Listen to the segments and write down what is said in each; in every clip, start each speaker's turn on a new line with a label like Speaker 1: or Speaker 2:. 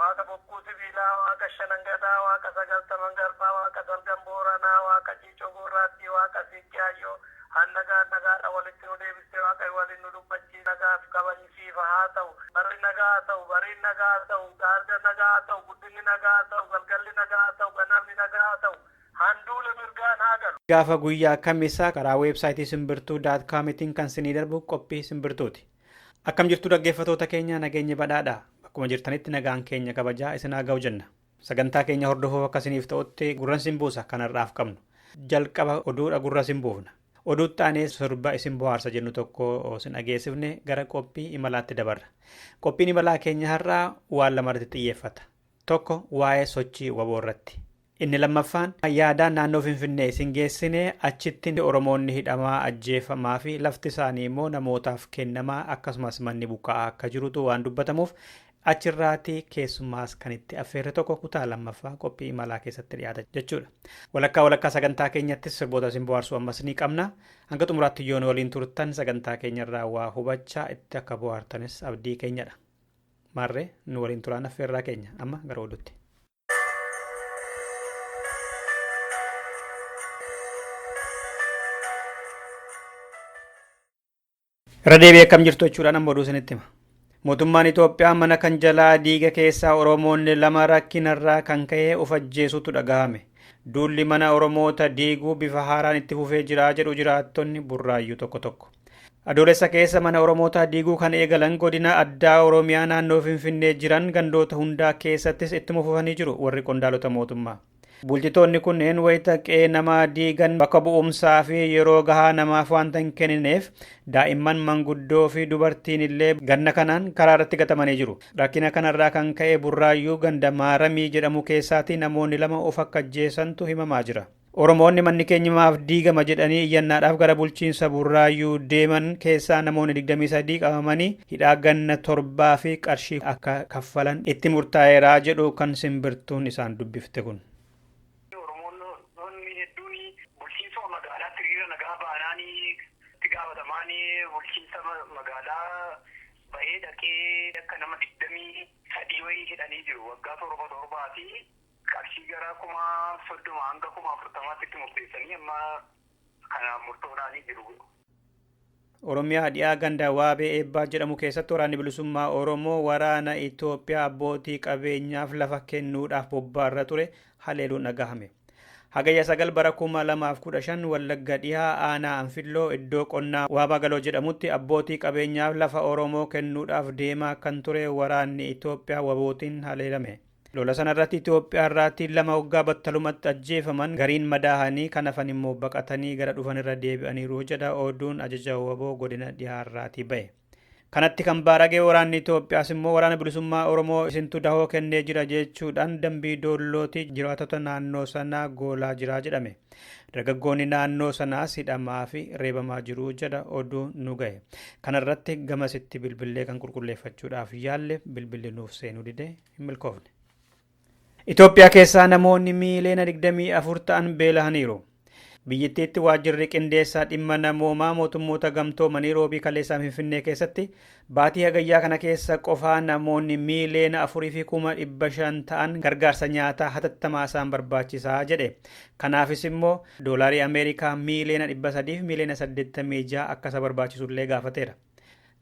Speaker 1: Waaqa bokkuu sibiilaa, Waaqa shanan gadaa, Waaqa sagaltaman
Speaker 2: garbaa, Waaqa salgan booranaa, Waaqa ciicoo gurraattii, Waaqa siiqqee hayyoo, An nagaan nagaadhaan walitti nu deebiste, Waaqayyo waliin nu dubbachiise, Nagaaf kabajni siifa haa ta'u, Barri nagaa haa ta'u, Bariin nagaa haa ta'u, Gaarga nagaa haa ta'u, Guddinni nagaa haa ta'u, Galgalli nagaa haa ta'u, Ganamni nagaa haa ta'u, Handuule mirgaan haa galu. Gaafa guyyaa Kamisa karaa website simbirtuu dot com tiin kan sinii darbu qophii simbirtuuti. Akkam jirtu dhaggeeffatoota keenya nageenyi badhaadha. Bakkuma jirtanitti nagaan keenya kabajaa isin haa ga'u jenna. Sagantaa keenya hordofuuf akka isiniif ta'utti gurran sin buusa kan har'aaf qabnu. Jalqaba oduudha gurra sin buufna. Oduutti aanee sirba isin bohaarsa jennu tokko sin dhageessifne gara qophii imalaatti dabarra. Qophiin imalaa keenya har'aa waan lamarratti xiyyeeffata. Tokko waa'ee sochii waboo irratti. Inni lammaffaan yaadaan naannoo Finfinnee isin geessine achitti Oromoonni hidhamaa, ajjeefamaa fi lafti isaanii immoo namootaaf kennamaa akkasumas manni buqqa'aa akka jirutu waan dubbatamuuf achirraati keessummaas kan itti affeerre tokko kutaa lammaffaa qophii imalaa keessatti dhiyaata jechuudha. Walakkaa walakkaa sagantaa keenyattis sirboota isin bohaarsuu ammas ni qabna. Hanga xumuraatti yoo nu waliin turtan sagantaa keenyarraa waa hubachaa itti akka bohaartanis abdii keenyadha. Maarree nu waliin turaan affeerraa keenya amma gara oduutti. Irra deebi'ee akkam jirtu jechuudhaan amma oduu isinitti hima. Mootummaan Itoophiyaa mana kan jalaa diiga keessaa Oromoonni lama rakkinarraa kan ka'e of ajjeesuutu dhagahame. Duulli mana Oromoota diiguu bifa haaraan itti fufee jira jedhu jiraattonni burraayyuu tokko tokko. Adoolessa keessa mana Oromootaa diiguu kan eegalan godina addaa Oromiyaa naannoo Finfinnee jiran gandoota hundaa keessattis ittuma fufanii jiru warri qondaalota mootummaa. Bulchitoonni kunneen wayita qe'ee namaa diigan bakka bu'umsaa fi yeroo gahaa namaaf waanta hin kennineef daa'imman manguddoo fi dubartiin illee ganna kanaan karaa irratti gatamanii jiru. Rakkina kanarraa kan ka'e Burraayyuu ganda Maaramii jedhamu keessaati namoonni lama of akka ajjeesantu himamaa jira. Oromoonni manni keenya maaf diigama jedhanii iyyannaadhaaf gara bulchiinsa Burraayyuu deeman keessaa namoonni 23 qabamanii hidhaa ganna torbaa fi qarshii akka kaffalan itti murtaa'eera jedhu kan simbirtuun isaan dubbifte kun. Oromoonni hedduun bulchiinsuma magaalaatti hiriira nagaa baanaan
Speaker 3: itti gaafatamaan bulchiinsa magaalaa bahee dhaqee akka nama 23 wayii hidhanii jiru. Waggaa torba torbaa fi qarshii gara 30,000 hanga 40,000tti itti murteessanii amma kana murtoodhaanii
Speaker 2: jiru. Oromiyaa dhiyaa ganda Waabee Eebbaa jedhamu keessatti waraanni bilisummaa Oromoo waraana Itoophiyaa abbootii qabeenyaaf lafa kennuudhaaf bobbaarra ture haleeluun dhagahame. Hagayya sagal bara 2015 Wallagga dhihaa aanaa Anfilloo iddoo qonnaa Waabaa Galoo jedhamutti abbootii qabeenyaaf lafa Oromoo kennuudhaaf deemaa kan ture waraanni Itoophiyaa wabootiin haleelame. Lola sana irratti Itoophiyaa irraati lama oggaa battalumatti ajjeefaman gariin madaahanii kan hafan immoo baqatanii gara dhufan irra deebi'aniiru jedha oduun ajaja wbo godina dhihaa irraati ba'e. Kanatti kan baarage waraanni Itoophiyaas immoo waraana bilisummaa Oromoo isintu dahoo kennee jira jechuudhaan dambii doollooti jiraatota naannoo sanaa goolaa jira jedhame. Dargaggoonni naannoo sanaas hidhamaa fi reebamaa jiru jedha oduu nu gahe. Kanarratti gamasitti bilbillee kan qulqulleeffachuudhaaf yaalle bilbilli nuuf seenuu dide. hin milkoofne. Itoophiyaa keessaa namoonni miiliyoona 24 ta'an beelahaniiru. Biyyittiitti waajjirri qindeessaa dhimma namoomaa mootummoota gamtoomanii roobii kaleessaa Finfinnee keessatti baatii hagayyaa kana keessa qofaa namoonni miiliyoona afurii fi kuma dhibba shan ta'an gargaarsa nyaataa hatattamaa isaan barbaachisaa jedhe. Kanaafis immoo doolaarii Ameerikaa miiliyoona dhibba sadiif miiliyoona saddeettamii ja'a akka isa barbaachisullee gaafateera.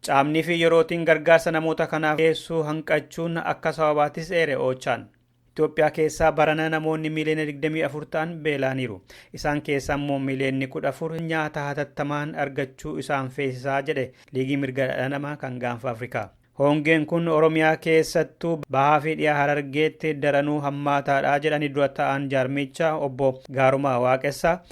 Speaker 2: Caamnii fi yerootiin gargaarsa namoota kanaaf dhiyeessuu hanqachuun akka sababaatis eere Oochaan. Itoophiyaa keessaa barana namoonni miiliyoona 24 ta'an beela'aniiru. Isaan keessaa immoo miiliyoonni 14 nyaata hatattamaan argachuu isaan feesisaa jedhe Liigii Mirga Dhala Namaa kan Gaanfa Afrikaa. Hoongeen kun Oromiyaa keessattuu bahaa fi dhiyaa Harargeetti daranuu hammaataadha jedhani dura ta'aan jaarmiichaa obbo Gaarumaa Waaqessaa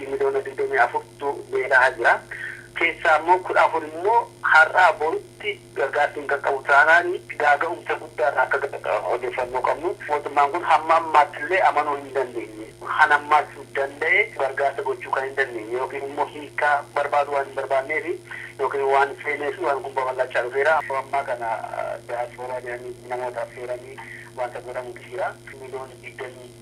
Speaker 3: Namoota miliyoona 24tu beela'aa jira. Keessaa immoo 14 immoo har'aa boritti gargaarsi hin qaqqabu taanaan gaaga'umsa guddaa irraa akka ga'u odeeffannoo qabnu. Mootummaan kun hamma ammaatti illee amanuu hin dandeenye. Kan ammaas danda'e gargaarsa gochuu kan hin dandeenye yookiin immoo hiikkaa barbaaduu waan hin barbaadneefi yookiin waan seeneefi waan kun babal'achaa dhufeera. Yeroo ammaa kana diyaaspooraa jedhanii namoota affeeranii wanta godhamutu jira. Miliyoona 20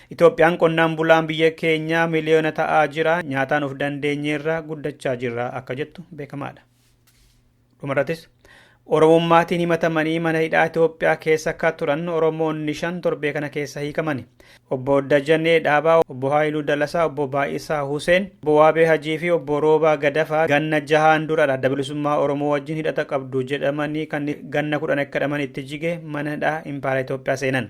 Speaker 2: Itoophiyaan qonnaan bulaan biyya keenyaa miliyoona ta'aa jira, nyaataan of dandeenyeerra guddachaa jirra akka jettu beekamaadha. Dhumarrattis Oromummaatiin himatamanii mana hidhaa Itoophiyaa keessa akka turan Oromoonni shan torbee kana keessa hiikamani. Obbo Dajanee Dhaabaa, Obbo Haayiluu Dalasaa, Obbo Baay'isaa Huseen, Obbo Waabee Hajii fi Obbo Roobaa Gadafaa ganna jahaan dura adda bilisummaa Oromoo wajjin hidhata qabdu jedhamanii kan ganna kudhan akka hidhaman itti jige mana hidhaa Impaayera Itoophiyaa seenan.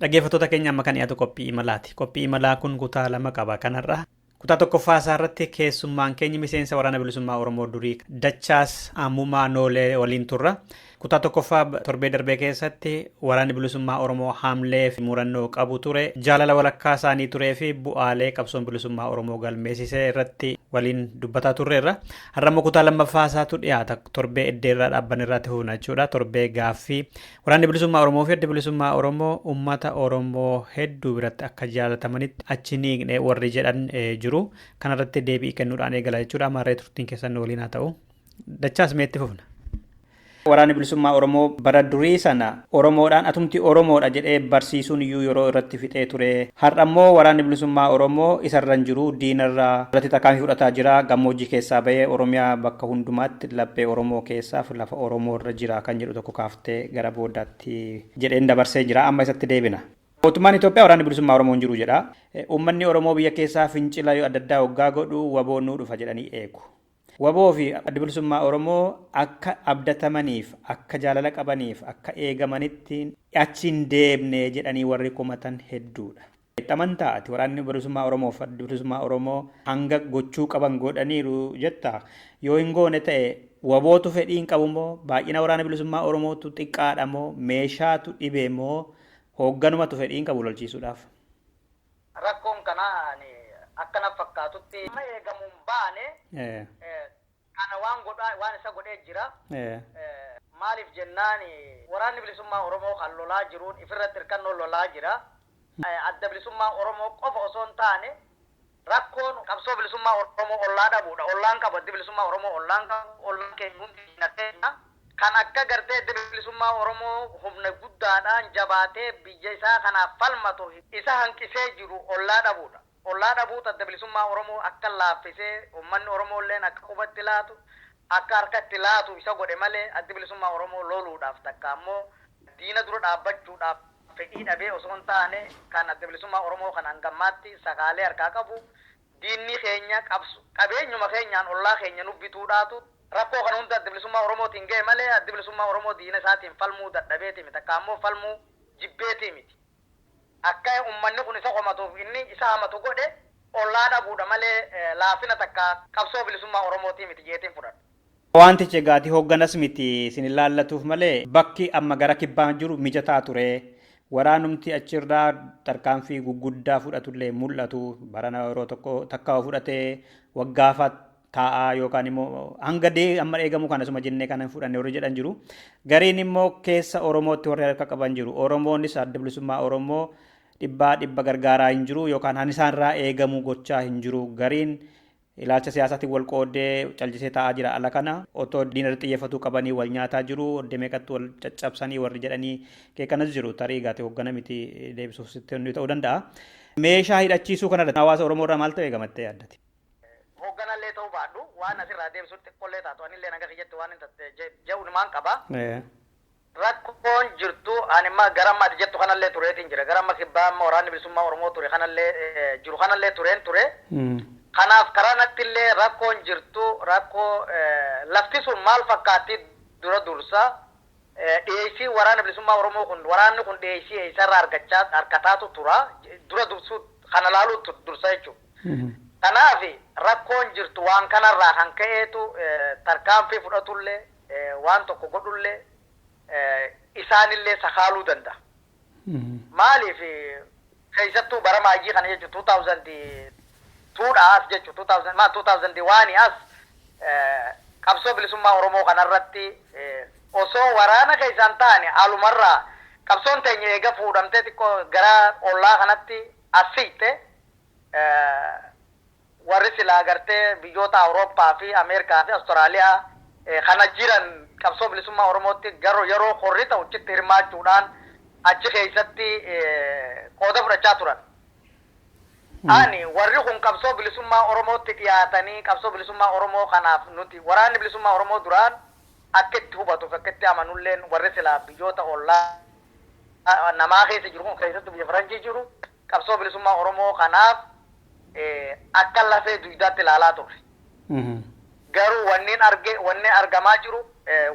Speaker 2: Dhaggeeffattoota keenya amma kan dhiyaatu qophii imalaati. Qophii imalaa kun kutaa lama qaba kanarra. Kutaa tokkoffaa isaa irratti keessummaan keenya miseensa waraana bilisummaa Oromoo durii Dachaas Ammumaa Noolee waliin turra. Kutaa tokkoffaa torbee darbee keessatti waraanni bilisummaa Oromoo haamlee fi murannoo qabu ture jaalala walakkaa isaanii turee fi bu'aalee qabsoon bilisummaa Oromoo galmeessisee irratti waliin dubbataa turreerra. Har'a immoo kutaa lammaffaa isaatu dhiyaata torbee eddeerraa dhaabban irratti fuuna jechuudha. Torbee gaaffii waraanni bilisummaa Oromoo fi adda bilisummaa Oromoo uummata Oromoo hedduu biratti akka jaalatamanitti achi ni hiikne warri jedhan jiru. Kanarratti deebii kennuudhaan eegala jechuudha. Maarree turtiin keessan waliin haa ta'u. Dachaas meetti fufna. Waraanni bilisummaa Oromoo bara durii sana Oromoodhaan atumti Oromoodha jedhee barsiisuun iyyuu yeroo irratti fixee ture. Har'a immoo waraanni bilisummaa Oromoo isarra hin jiru diinarra irratti tarkaanfii fudhataa jira. Gammoojjii keessaa bahee Oromiyaa bakka hundumaatti laphee Oromoo keessaaf lafa Oromoorra jira kan jedhu tokko kaaftee gara boodaatti jedheen dabarsee jira. Amma isatti deebina. Mootummaan Itoophiyaa waraanni bilisummaa Oromoo hin jiru jedha. Uummanni Oromoo biyya keessaa fincila adda addaa oggaa godhu waboon nuu dhufa jedhanii eegu. Wbo fi Addi Bilisummaa Oromoo akka abdatamaniif, akka jaalala qabaniif, akka eegamanitti achi hin deemne jedhanii warri komatan hedduudha. Itti amantaa ati? Waraanni Bilisummaa Oromoo fi Addi Bilisummaa Oromoo hanga gochuu qaban godhaniiru jettaa? Yoo hin goone ta'e Wbotu fedhii hin qabu moo? Baay'ina Waraana Bilisummaa Oromootu xiqqaadha moo? Meeshaatu dhibe moo? Hoogganumatu fedhii hin qabu lolchiisuudhaaf?
Speaker 4: Rakkoon kanaa ani akka na fakkaatutti. Amma eegamu hin baane. Kana waan godhaa waan isa godhee jira. Maaliif jennaan Waraanni Bilisummaa Oromoo kan lolaa jiruun ifirratti hirkannoo lolaa jira. Adda Bilisummaa Oromoo qofa osoo hin taane. Rakkoon qabsoo bilisummaa Oromoo ollaa dhabuudha. Ollaan qabu Addi Bilisummaa Oromoo ollaan qabu. Ollaan keenya hundi diina keenya. Kan akka gartee Addi Bilisummaa Oromoo humna guddaadhaan jabaatee biyya isaa kanaaf falmatu isa hanqisee jiru ollaa dhabuudha. Ollaa dhabuutu Adda Bilisummaa Oromoo akka laaffisee ummanni Oromoolleen akka quba itti laatu, akka harka itti laatu isa godhe malee Addi Bilisummaa Oromoo loluudhaaf takka ammoo diina dura dhaabbachuudhaaf, fedhii dhabee osoo hin taane kan Adda Bilisummaa Oromoo kan hanga ammaatti sakaalee harkaa qabu diinni keenya qabso qabeenyuma keenyaan ollaa keenya nu bituudhaatu rakkoo kana hunda Adda Bilisummaa Oromootiin gahe malee Addi Bilisummaa Oromoo diina isaatiin falmuu dadhabeeti miti takkaa immoo falmuu jibbeeti miti. Akka ummanni kun isa komatuuf inni isa hamatu godhe ollaa dhabuudha malee laafina takkaa qabsoo bilisummaa Oromootii miti jeetiin fudhadha. Wantichi egaati
Speaker 2: hoogganas miti isin ilaallatuuf malee bakki amma gara kibbaa jiru mijataa ture. Waraanumti achirraa tarkaanfii gugguddaa fudhatullee hin mul'atu. Barana yeroo tokko takka yoo fudhate waggaafa taa'a yookaan immoo hanga dee amma eegamu kana suma jennee kana hin fudhanne warri jedhan jiru. Gariin immoo keessa Oromootti warri harka qaban jiru. Oromoonis adda bilisummaa Oromoo dhibbaa dhibba gargaaraa hin jiru yookaan han isaanirraa eegamu gochaa hin jiru. Gariin Ilaalcha siyaasaatiin wal qooddee callisee taa'aa jira ala kana. Otoo diina irratti xiyyeeffatuu qabanii wal nyaataa jiru. Oddee meeqatti wal caccabsanii warri jedhanii qeeqanas jiru. Tarii gaati hoggana miti deebisuuf sitti ni ta'uu danda'a. Meeshaa hidhachiisuu kanarratti hawaasa Oromoo irraa maaltu eegamattee yaaddati? Hoogganallee
Speaker 4: ta'uu baadhu waan asirraa deebisuun xiqqollee taatu anillee naga kiyyatti waan hin tatte ja'uun maan qaba. Rakkoon jirtu ani amma gara amma ati jettu kanallee tureetiin jira. Gara amma kibbaa amma waraanni bilisummaa Oromoo ture kanallee jiru kanallee tureen ture. Kanaaf karaa nattillee rakkoon jirtu rakkoo lafti sun maal fakkaatti dura dursa dhiyeessiin waraana bilisummaa Oromoo kun waraanni kun dhiyeessii eessarraa argachaa argataatu tura dura dursuu kana laaluutu dursa jechuudha. Kanaaf rakkoon jirtu waan kanarraa kan ka'eetu tarkaanfii fudhatullee waan tokko godhullee isaanillee sakaaluu danda'a. Maaliif keessattuu bara maayyii kana jechuun 2002 dhaa as jechuun 2000 maal 2001 as qabsoo bilisummaa Oromoo kanarratti osoo waraana keessa hin taane alumarraa qabsoon teenya eega fuudhamtee xiqqoo gara ollaa kanatti as siqxe Warri silaa gartee biyyoota Awurooppaa fi Ameerikaa fi Awustiraaliyaa kana jiran qabsoo bilisummaa Oromootti garuu yeroo korri ta'u chitti hirmaachuudhaan achi keessatti qooda fudhachaa turan. Ani warri kun qabsoo bilisummaa Oromootti dhiyaatanii qabsoo bilisummaa Oromoo kanaaf nuti waraanni bilisummaa Oromoo duraan akka itti hubatu fi akka itti amanu illeen warri silaa biyyoota ollaa namaa keessa jiru kun keessattuu biyya Faranjii jiru qabsoo bilisummaa Oromoo kanaaf akka lafee duydaatti ilaalaa turre. Garuu wannin arge, wanni argamaa jiru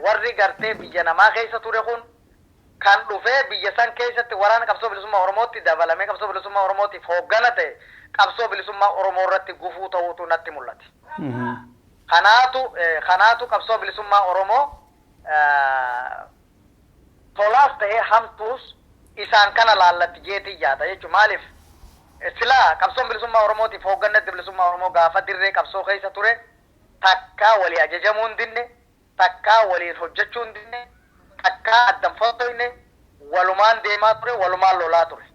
Speaker 4: warri gartee biyya namaa keessa ture kun kan dhufee biyya san keessatti waraana qabsoo bilisummaa Oromootti dabalamee qabsoo bilisummaa Oromootiif hooggana ta'e qabsoo bilisummaa Oromoo irratti gufuu ta'uutu natti mul'ate. Kanaatu, kanaatu qabsoo bilisummaa Oromoo tolaas ta'ee hamtuus isaan kana laallatti jeetiin yaada jechuun maaliif silaa qabsoon bilisummaa oromootiif hoogganni adda bilisummaa oromoo gaafa dirree qabsoo keessa ture takkaa walii ajajamuu hin dinne takkaa waliin hojjechuu hin dinne takkaa addan fottoyne walumaan deemaa ture walumaan lolaa ture.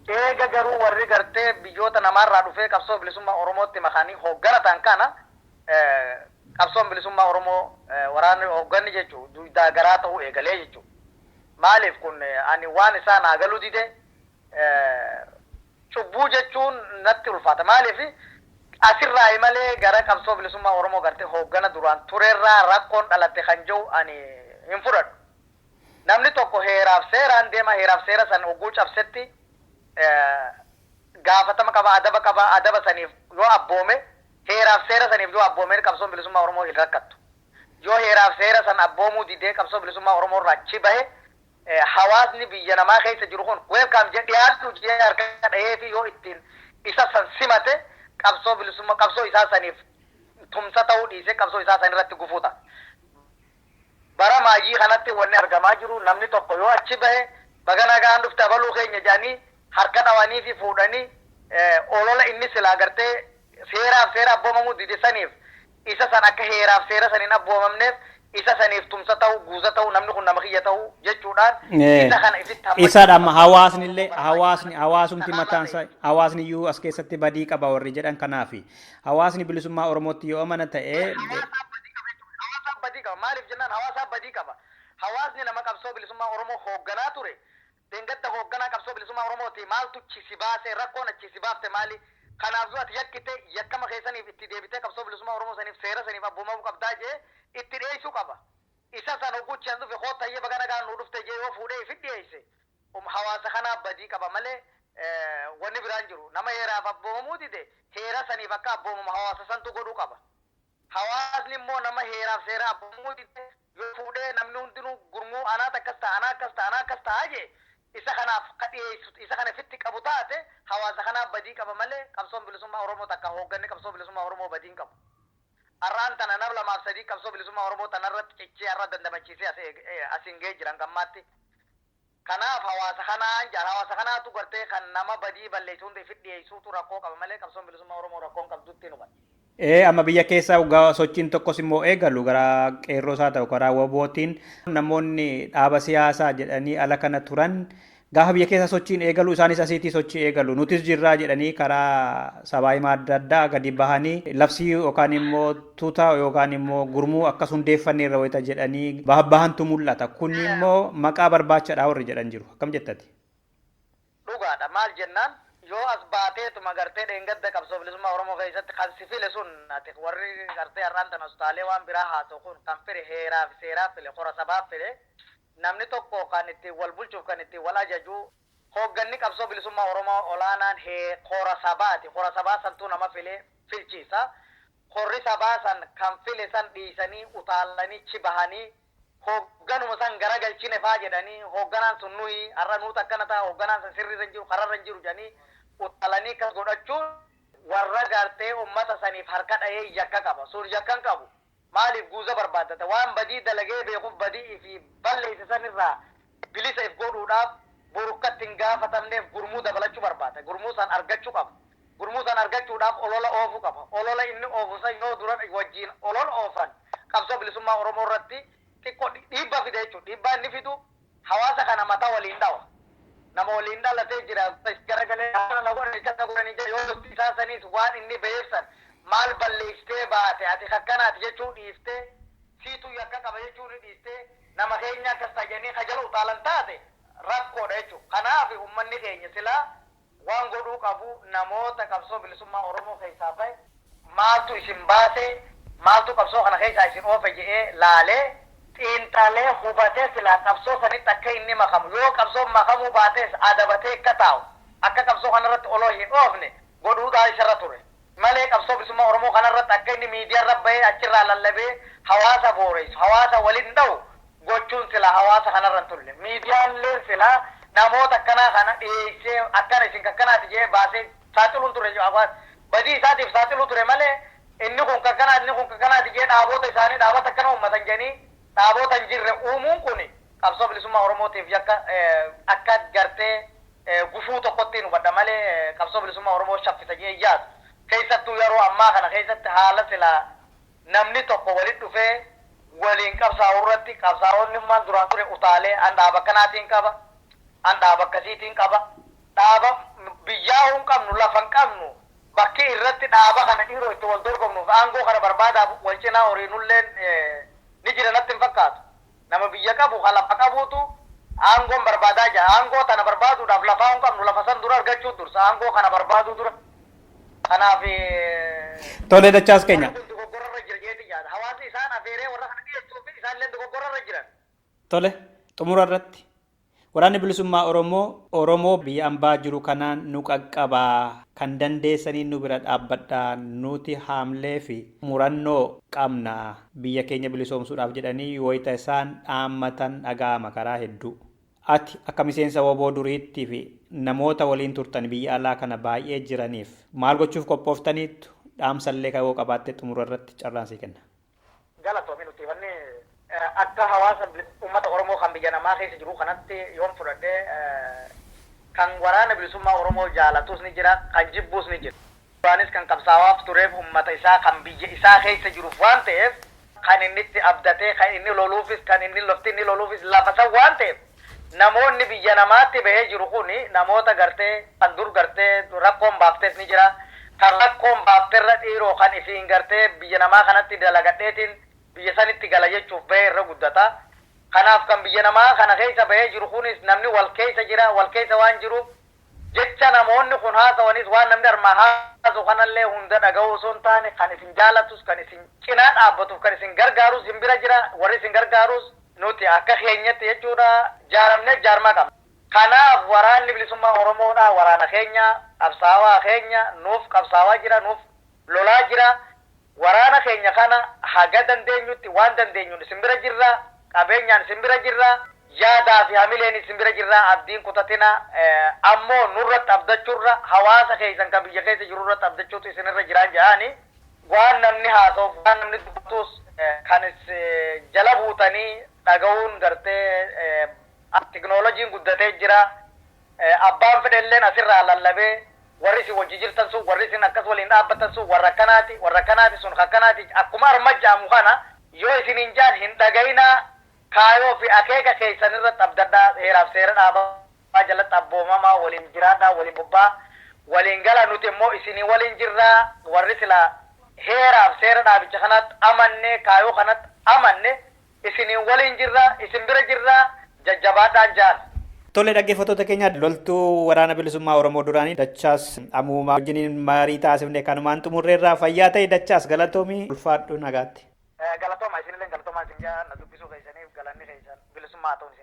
Speaker 4: Eega garuu warri gartee biyyoota namaarraa dhufee qabsoo bilisummaa oromootti makanii hooggana ta'an kana qabsoon bilisummaa Oromoo waraanni hoogganni jechuun duydaa garaa ta'uu eegalee jechuudha. Maaliif kun ani waan isaa naa galuu dide cubbuu jechuun natti ulfaata. Maaliif asirraayi malee gara qabsoo bilisummaa Oromoo gartee hooggana duraan turerraa rakkoon dhalatte kan jedhu ani hin fudhadhu. Namni tokko heeraaf seeraan deema heeraaf seera san hogguu cabsetti gaafatama qaba adaba qaba adaba saniif yoo abboome Heeraaf seera saniif yoo abboomeen qabsoon bilisummaa Oromoo hin rakkattu. Yoo heeraaf seera san abboomuu didee qabsoo bilisummaa Oromoo irraa achi bahe hawaasni biyya namaa keessa jiru kun welcome jedhee dhiyaadhu jedhee harka dhaheefii yoo ittiin isa san simate qabsoo bilisummaa qabsoo isaa saniif tumsa ta'uu dhiisee qabsoo isaa san irratti gufuu ta'a. Bara maayyii kanatti wanni argamaa jiru namni tokko yoo achi bahe baga nagaan dhufte abaluu keenya jedhanii harka dhawaniifi fuudhanii olola inni silaa gartee seeraaf seera abboomamuu dide saniif isa san akka heeraaf seera san hin abboomamneef isa saniif tumsa ta'uu, guuza ta'uu, namni kun nama kiyya ta'uu jechuudhaan isa kana ifitti hammachuu Isadha amma barbaadu. hawaasni
Speaker 2: illee Oromoo barbaadu hawaasni kana hawaasumti kanarraa mataan ta'e. isaa hawaasni iyyuu as keessatti badii qaba warri jedhan kanaafi. Hawaasni bilisummaa Oromootti yoo amana ta'e Hawaasaa badii qaba jechuun
Speaker 4: Hawaasaa badii qaba. Maaliif jennaan hawaasaa badii qaba. Hawaasni nama qabsoo bilisummaa Oromoo hoogganaa ture dhengadda hoogganaa qabsoo bilisummaa Oromoo ti maaltu achi si baase rakkoon achi si baafte maali? Kanaaf yoo ati yakkite yakkama kee saniif itti deebitee qabsoo bilisummaa Oromoo saniif seera saniif abboomamuu qabdaa jedhee itti dhiyeessuu qaba. Isa san hogguu achi an dhufe kootta hayyee baga nagaan nuu dhufte jedhee yoo fuudhee ifit dhiyeesse hawaasa kanaa badii qaba malee wanni biraa hin jiru. Nama heeraaf abboomamuu dide heera saniif akka abboomamu hawaasa santu godhuu qaba. Hawaasni immoo nama heeraaf seera abbumuu dide yoo fuudhee namni hundinuu gurmuu anaat akkas ta'a anaa akkas ta'a anaa akkas ta'a jee isa kanaaf ka dhiyeessu isa kana fitti qabu taate hawaasa kanaaf badii qaba malee qabsoon bilisummaa oromoo takka hoogganni qabsoo bilisummaa oromoo badii hin qabu. Arraan tana nam lamaaf sadii qabsoo bilisummaa oromoo tana irratti cichee arra dandamachiisee as asiin ga'ee jira hanga ammaatti Kanaaf hawaasa kanaan jaal hawaasa kanaatu gartee kan nama badii balleessu hunda ifit dhiyeessuutu rakkoo qaba malee qabsoon bilisummaa Oromoo rakkoo hin qabdu ittiin hubanna. Ee amma biyya keessa
Speaker 2: hoggaa sochiin tokkos immoo eegalu karaa qeerroos haa ta'u karaa wbo tiin namoonni dhaaba siyaasaa jedhanii ala kana turan gaafa biyya keessa sochiin eegalu isaanis asiitii sochii eegalu nutis jirraa jedhanii karaa sabaa himaa adda addaa gadi bahanii labsii yookaan immoo tuuta yookaan immoo gurmuu akkas hundeeffanneerra wayita jedhanii bahantu mul'ata. Kun immoo maqaa barbaachadhaa warri jedhan jiru. Akkam jettati?
Speaker 4: Dhugaadha. Maal jennaan yoo as baateetuma gartee dheengadda qabsoo bilisummaa Oromoo keessatti kan si file sun ati warri gartee har'aan tana utaalee waan biraa haasa'u kun kan file heeraa fi seeraa file kora sabaa file namni tokko kan ittiin wal bulchuuf kan ittiin wal ajaju hoogganni qabsoo bilisummaa Oromoo olaanaan hee kora sabaati. Kora sabaa santuu nama filee filchiisa. Korri sabaa san kan file san dhiisanii utaalanii ch bahanii hoogganuma san garagalchine faa jedhanii hoogganaan sun nuhi har'a nuutu akkana ta'a hoogganaan san sirriirra hin jiru karaarra hin jiru jedhanii utaalanii akkas godhachuun warra gartee ummata saniif harka dhahee yakka qaba. Sun yakka hin qabu. Maaliif guuza barbaaddata? Waan badii dalagee beekuf badii ifii balleeyse san irraa bilisa if godhuudhaaf borukkatti hin gaafatamneef gurmuu dabalachu barbaada. Gurmuu san argachu qaba. Gurmuu san argachuudhaaf olola oofu qaba. Olola inni oofu san yoo dura wajjiin olol oofan qabsoo bilisummaa Oromoo irratti xiqqo dhiibba fida jechuudha. Dhiibbaa inni fidu hawaasa kana mata waliin dhawa. Nama waliin dhalatee jira is garagalee akkana na godhani akkana na godhani jedha yoo dubbii isaa saniis waan inni baheef san maal balleessitee baate ati kakkanaati jechuu dhiiftee siitu yakka qaba jechuu ni dhiistee nama keenya akkas ta'a jedhanii ka jala utaalan taate rakkoodha jechuudha. Kanaaf ummanni keenya silaa waan godhuu qabu namoota qabsoo bilisummaa Oromoo keessaa bahe, maaltu isin baase, maaltu qabsoo kana keessaa isin oofe jedhee laalee, xiinxalee, hubatee silaa qabsoo sanitti akka inni makamu, yoo qabsoon makamuu baatees adabatee akka taa'u, akka qabsoo kanarratti oloo hin oofne godhuudha isarra ture. malee qabsoo bilisummaa Oromoo kana irratti akka inni miidiyaa irra bahee achi irraa lallabee hawaasa booreessu, hawaasa waliin dhahu gochuun silaa hawaasa kana irra hin tulle. Miidiyaan illeen silaa namoota akkanaa kana dhiyeessee akkana isin kakkanaati jedhee baasee saaxiluun ture badii isaatiif saaxiluu ture malee inni kun kakkanaati inni kun kakkanaati jedhee dhaaboota isaanii dhaabata akkana uummatan jedhanii dhaaboota hin jirre uumuun kuni Qabsoo bilisummaa Oromootiif yakka akka gartee gufuu tokkottiin hubadha malee qabsoo bilisummaa Oromoo shaffisa jedhee hin yaadu. Keessattuu yaroo ammaa kana keessatti haala silaa namni tokko walitti dhufee waliin qabsaa'u irratti qabsaa'onnummaan duraan ture utaalee an dhaaba akkanaatiin qaba, an dhaaba akkasiitiin qaba, dhaaba biyyaahuu hin qabnu, lafa hin qabnu, bakki irratti dhaaba kana dhiiroo itti wal dorgomnuuf aangoo kana barbaadaaf wal cinaa horiinulleen ni jira natti hin fakkaatu. Nama biyya qabu ka lafa qabuutu aangoon barbaadaa ja'a. Aangoo tana barbaaduudhaaf lafaa hin qabnu. Lafa san dura argachuu dursa. Aangoo kana barbaaduu dura. Kanaaf
Speaker 2: Tole dachaas warri keenya. kun dogoggora irra jira jeetiin yaada.
Speaker 4: Hawaasni isaan afeeree warra kana dhiyeessuu fi isaan illee dogoggora irra jiran. Tole
Speaker 2: xumura irratti Waraanni Bilisummaa Oromoo Oromoo biyya ambaa jiru kanaan nu qaqqabaa, kan dandeessaniin nu bira dhaabbadhaa, nuti haamlee fi murannoo qabna, biyya keenya bilisoomsuudhaaf jedhanii wayita isaan dhaammatan dhaga'ama karaa hedduu. Ati akka miseensa wbo duriitti fi namoota waliin turtani biyya alaa kana baay'ee jiraniif maal gochuuf qophooftaniittu? Dhaamsallee kan yoo qabaatte xumura irratti carraan sii kenna. Galatoomi nutti
Speaker 4: himannii. Akka hawaasa ummata Oromoo kan biyya namaa keessa jiruu kanatti yoon fudhadhe kan waraana bilisummaa Oromoo jaalatus ni jira, kan jibbuus ni jira. Duraanis kan qabsaawaaf tureef ummata isaa kan biyya isaa keessa jiruuf waan ta'eef kan inni itti abdatee kan inni loluufis kan inni lofti inni loluufis lafa san waan ta'eef namoonni biyya namaatti bahee jiru kun namoota gartee kan dur gartee rakkoon baafteef ni jira kan rakkoon baafterra dhiiroo kan ifiin gartee biyya namaa kanatti dalagadheetiin biyya sanitti gala jechuuf bahee irra guddata kanaaf kan biyya namaa kana keessa bahee jiru kunis namni wal keessa jira wal keessa waan jiruuf Jecha namoonni kun haasawanis waan namni armaan haasawu kanallee hunda dhagahuu osoo hin taane kan isin jaalatus kan isin cinaa dhaabbatuuf kan isin gargaarus isin bira jira warri isin gargaarus nuti akka keenyatti jechuudha jaaramneef jaarmaa qabna. Kanaaf waraanni bilisummaa oromoodha waraana keenya qabsaawaa keenya nuuf qabsaawaa jira nuuf lolaa jira. Waraana keenya kana haga dandeenyutti waan dandeenyuun isin bira jirra. Qabeenyaan isin bira jirra. Yaadaa fi hamileenis isin bira jirra. Abdii hin kutatina. Ammoo nurratti abdachurra hawaasa keessan ka biyya keessa jiru irratti abdachuutu isin irra jiraan ja'aani. Waan namni haasa'u fi waan namni dubbatuus kan is jala buutanii dhaga'uun gartee teknolojiin guddatee jira. Abbaan fedhelleen asirraa lallabee warri isin wajji jirtan sun, warri isin akkas waliin dhaabbattan sun warra akkanaati, warra akkanaati, sun ka akkanaati, akkuma arma ja'amu kana, yoo isiniin ja'an hin dhagayinaa, kaayoo fi akeeka keeysan irratti abdadhaa, heeraa fi seera dhaabaa jalatti abboomamaa, waliin jiraadhaa, waliin bobba'aa, waliin galaa, nuti immoo isinii waliin jirra, warri silaa heeraa fi seera dhaabicha kanaatti amannee, kaayoo kanatti amanne, isiniin waliin jirra isin bira jirra jajjabaadhaan jaal. Tole dhaggeeffattoota
Speaker 2: keenya loltuu waraana bilisummaa Oromoo duraanii Dachaas Amuumaa wajjiniin marii taasifne kanumaan xumurreerraa fayyaa ta'e Dachaas galatoomii ulfaadhu nagaatti. Galatooma isinillee
Speaker 4: galatoomaa isin jaa na dubbisuu keessaniif galanni keessan bilisummaa haa ta'u.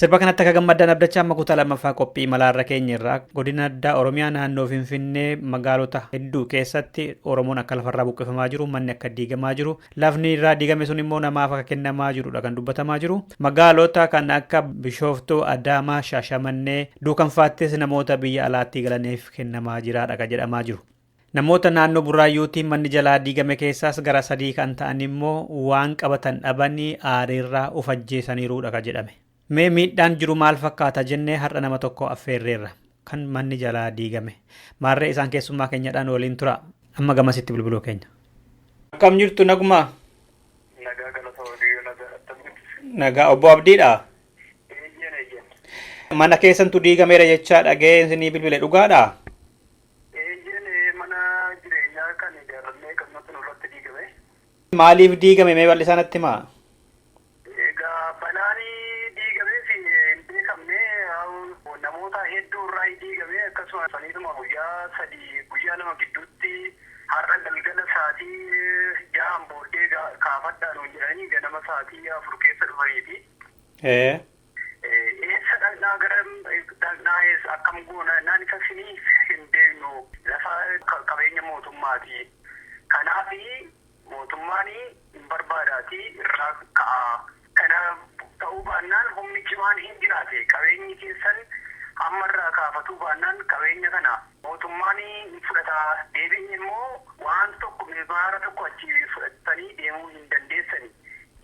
Speaker 2: Sirba kanatti akka gammaddan abdachaa amma kutaa lammaffaa qophii imalaa irra keenya irraa godina addaa Oromiyaa naannoo Finfinnee magaalota hedduu keessatti Oromoon akka lafarraa buqqifamaa jiru manni akka diigamaa jiru lafni irraa diigame sun immoo namaaf akka kennamaa jirudha kan dubbatamaa jiru magaalota kan akka Bishooftuu Adaamaa Shaashamannee duukanfaattis namoota biyya alaattii galaniif kennamaa jiraadha kan jedhamaa jiru. Namoota naannoo Burraayyuutiin manni jalaa diigame keessaas gara sadii kan ta'an immoo waan qabatan dhabanii aariirraa of ajjeesaniiruudha ka jedhame. Mee miidhaan jiru maal fakkaata jennee har'a nama tokko affeerreerra. Kan manni jalaa diigame. Maarree isaan keessummaa keenyadhaan waliin tura. Amma gamasitti bilbiluu keenya. Akkam jirtu naguma? Nagaa galata waaqayyoo nagaa
Speaker 3: attam jirtu? Nagaa obbo Abdiidha.
Speaker 2: Eeyyeen eeyyeen. Mana keessantu diigameera jechaa dhaga'ee isinii bilbile dhugaadha? Eeyyeen ee
Speaker 3: mana jireenyaa kan ijaarrannee qabnutu nurratti diigame. Maaliif
Speaker 2: diigame mee bal'isaa natti himaa? Egaa balaan diigameef hin beekamne
Speaker 3: namoota hedduu irraa diigame akkasuma saniituma guyyaa sadii guyyaa lama gidduutti har'a galgala saatii jahaan booddee kaafadhaa nuun jedhanii ganama saatii afur keessa dhufaniiti. Eessa dhaqnaa garam dhaqnaa eessa akkam goona jennaan isa isinii hin beeknu lafa qabeenya mootummaati kanaafi mootummaan hin barbaadaati irraa ka'aa kana ta'uu baannaan humni cimaan hin jiraate qabeenyi keessan amma irraa kaafatuu baannaan qabeenya kana mootummaan hin fudhata deebi'ee immoo waan tokko mimaara tokko achi fudhattanii deemuu hin dandeessani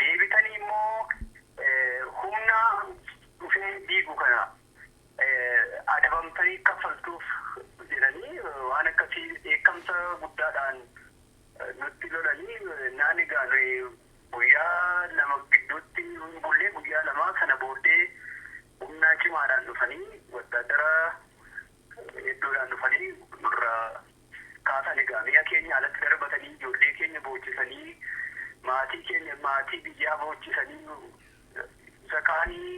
Speaker 3: deebitanii immoo Humna dhufee diigu kana adabamtanii kaffaltuuf jedhanii waan akkasii dheekkamsa guddaadhaan nutti lolanii naan egaa nuyi guyyaa lama gidduutti hin bullee guyyaa lamaa sana booddee humnaa cimaadhaan dhufanii wattaaddara hedduudhaan dhufanii nurraa kaasan egaa mi'a keenya alatti darbatanii ijoollee keenya boochisanii maatii keenya maatii biyyaa boochisanii nu isa kaanii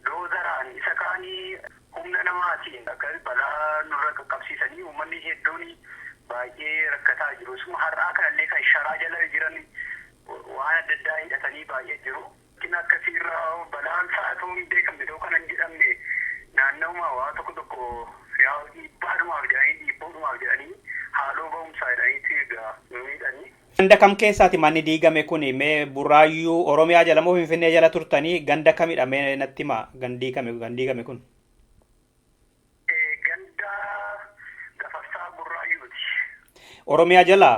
Speaker 3: doozaraan isa kaanii humna namaatiin akka balaa nurra qaqqabsiisanii uummanni hedduun baay'ee rakkataa jiru isuma har'aa kanallee kan sharaa jala jiran waan adda addaa hidhatanii baay'ee jiru. Rakkinni akkasii irra balaan isaa utuu hin beekamne ta'uu kan hin jedhamne naannawuma waa tokko tokko yaa'u dhiibbaadhumaaf jedhanii dhiibbuudhumaaf jedhanii haaloo ba'umsaa jedhaniiti egaa nu miidhanii. Ganda kam keessaati
Speaker 2: manni diigame kuni mee burraayyuu oromiyaa jala moo finfinnee jala turtanii ganda kamidha mee natti himaa kan diigame kan diigame kun.
Speaker 3: Ganda gafarsaa burraayyuuti. Oromiyaa jalaa?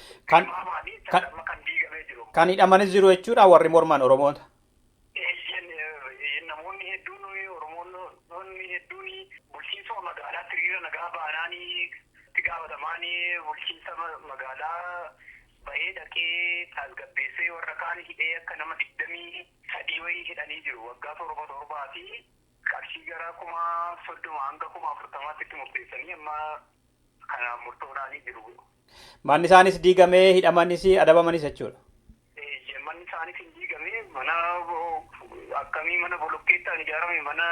Speaker 3: Kan Tilmaamaani kan kan amma kan diigamee jiru. kan hidhamanis jiru jechuudha
Speaker 2: warri morman Oromoota. Eeyyeen eh,
Speaker 3: namoonni hedduun eh, Oromoonni hedduun bulchiinsuma magaalaatti hiriira nagaa baanaanii itti gaafatamaanii bulchiinsa ma- magaalaa bahee dhaqee tasgabbeessee warra kaan hidhee akka nama digdamii sadii wayii hidhanii jiru waggaa torba torbaa fi qarshii gara kuma soddoma hanga kuma afurtamaatti itti murteessanii amma kana murtoodhaanii jiru. Manni isaanis
Speaker 2: diigamee hidhamanis adabamanis jechuudha. Eeyyee, manni
Speaker 3: isaanis hin diigamee mana akkamii mana bolokkeettaan ijaarame mana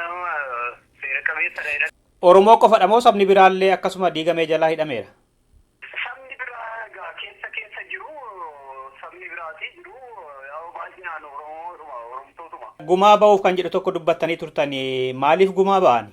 Speaker 3: seera qabeessadha jedhan. Oromoo qofadha
Speaker 2: moo sabni biraallee akkasuma diigamee jalaa hidhameera? Sabni
Speaker 3: biraa egaa keessa keessa jiru sabni biraatii jiru yaa'u baay'inaan Oromoodhuma Oromtootuma. Gumaa ba'uuf
Speaker 2: kan jedhu tokko dubbattanii turtanii maaliif gumaa ba'ani?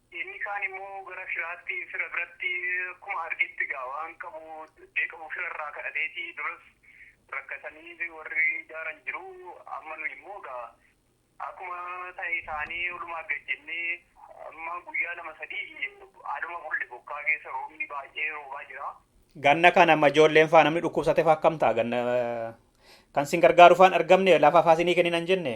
Speaker 3: Inni kaan immoo gara firaatti, fira biratti akkuma argetti egaa waan qabu dee qabu fira irraa kadhateeti duras rakkatanii warri jaaran jiru amma nu immoo egaa akkuma ta'e taanee olumaa gad jennee amma guyyaa lama sadii haaluma bulle bokkaa keessa roobni baay'ee roobaa jira. Ganna kana amma
Speaker 2: ijoolleen faa namni dhukkubsate faa akkam ta'a ganna kan sin gargaaru faan argamne lafa faa sinii kenninan jenne.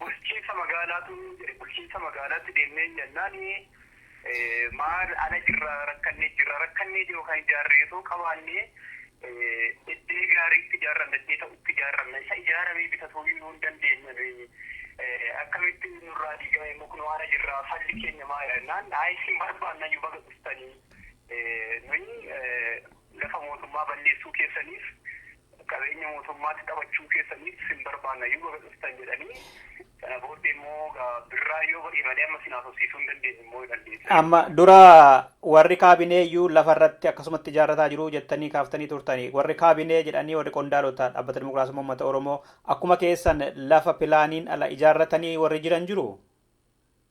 Speaker 2: Bulchiinsa magaalaatu jedhe
Speaker 3: bulchiinsa magaalaatti deemnee jennaan maal ala jirra rakkannee jirra rakkannee jiru kan ijaarree osoo qabaannee iddee gaariitti ijaarranna iddee ta'utti ijaarranna isa ijaaramee bitatuu iyyuu hin dandeenye akkamitti nurraa diigame immoo kunoo ala jirra falli keenya maal jennaan ayi isin barbaanna iyyuu baga dhuftanii nuyi Lafa mootummaa balleessuu keessaniif, qabeenya mootummaatti taphachuu keessaniif sin barbaanna iyyuu baga dhuftan jedhanii sana booddee immoo egaa birraa yoo ba'e malee amma sin haasofsiisuu hin dandeenyu immoo jedhan deebisanii.
Speaker 2: Amma dura warri kaabinee iyyuu lafa irratti akkasumatti ijaarrataa jiru jettanii kaaftanii turtanii. Warri kaabinee jedhanii warri qondaalota dhaabbata dimokiraasummaa uummata Oromoo akkuma keessan lafa pilaaniin ala ijaarratanii warri jiran jiru?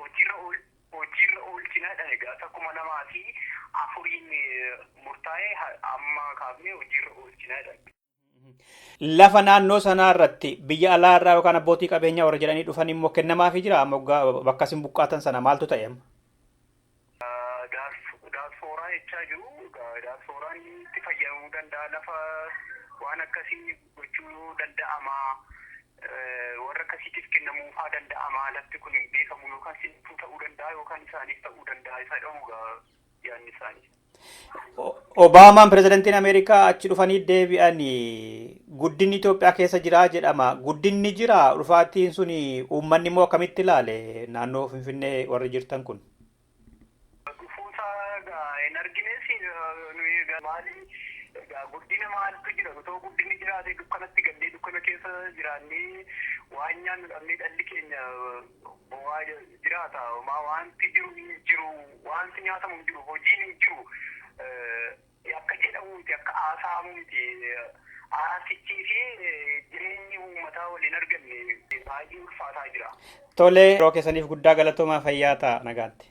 Speaker 2: hojiirra
Speaker 3: hojiirra oolchina jedhan egaa isa kuma lamaa fi afuriin murtaa'e amma kaafnee hojiirra oolchina jedhan.
Speaker 2: Lafa naannoo sanaa irratti biyya alaa irraa yookaan abbootii qabeenyaa warra jedhanii dhufan immoo kennamaafii jira moggaa bakka isin buqqaatan sana maaltu ta'e amma?
Speaker 3: Daaspooraa jechaa jiru. Daaspooraan itti fayyadamuu danda'a lafa waan akkasii gochuu danda'ama. Warra akkasiitiif kennamuufaa danda'ama lafti kun hin beekamu yookaan sitti ta'uu danda'a yookaan isaaniif ta'uu danda'a isa jedhamu yaadni isaanii.
Speaker 2: Obaamaan pirezidantiin Ameerikaa achi dhufanii deebi'anii guddinni Itoophiyaa keessa jiraa jedhama. Guddinni jira dhufaatiin suni uummanni immoo akkamitti ilaale naannoo Finfinnee warri jirtan kun? Dhufuusaa
Speaker 3: egaa hin argines nuyi egaa maali egaa guddina maaltu jira otoo guddinni jiraate dukkanatti gallee dukkana keessa jiraannee waan nyaannu dhabnee dhalli keenya Bowaa jiraata homaa wanti jiru hin jiru wanti nyaatamu hin jiru hojiin hin jiru akka jedhamu miti akka haasa'amu miti haasichii fi jireenyi uummataa waliin arganne baay'ee ulfaataa jira. Tole yeroo
Speaker 2: keessaniif guddaa galatoomaa fayyaa ta'a nagaatti.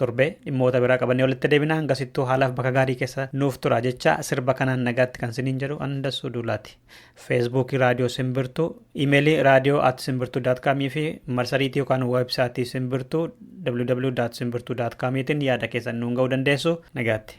Speaker 2: Torbee dhimmoota biraa qabannee walitti deebina hangasittuu haalaaf bakka gaarii keessa nuuf tura jechaa sirba kanaan nagaatti kan siniin jedhu an dassuu duulaati. Feesbuukii raadiyoo simbirtuu, imeelii raadiyoo at simbirtuu daat kaamii fi marsariitii yookaan weebsaatii simbirtuu www.simbirtuu.com tiin yaada keessan nuun ga'uu dandeessu nagaatti.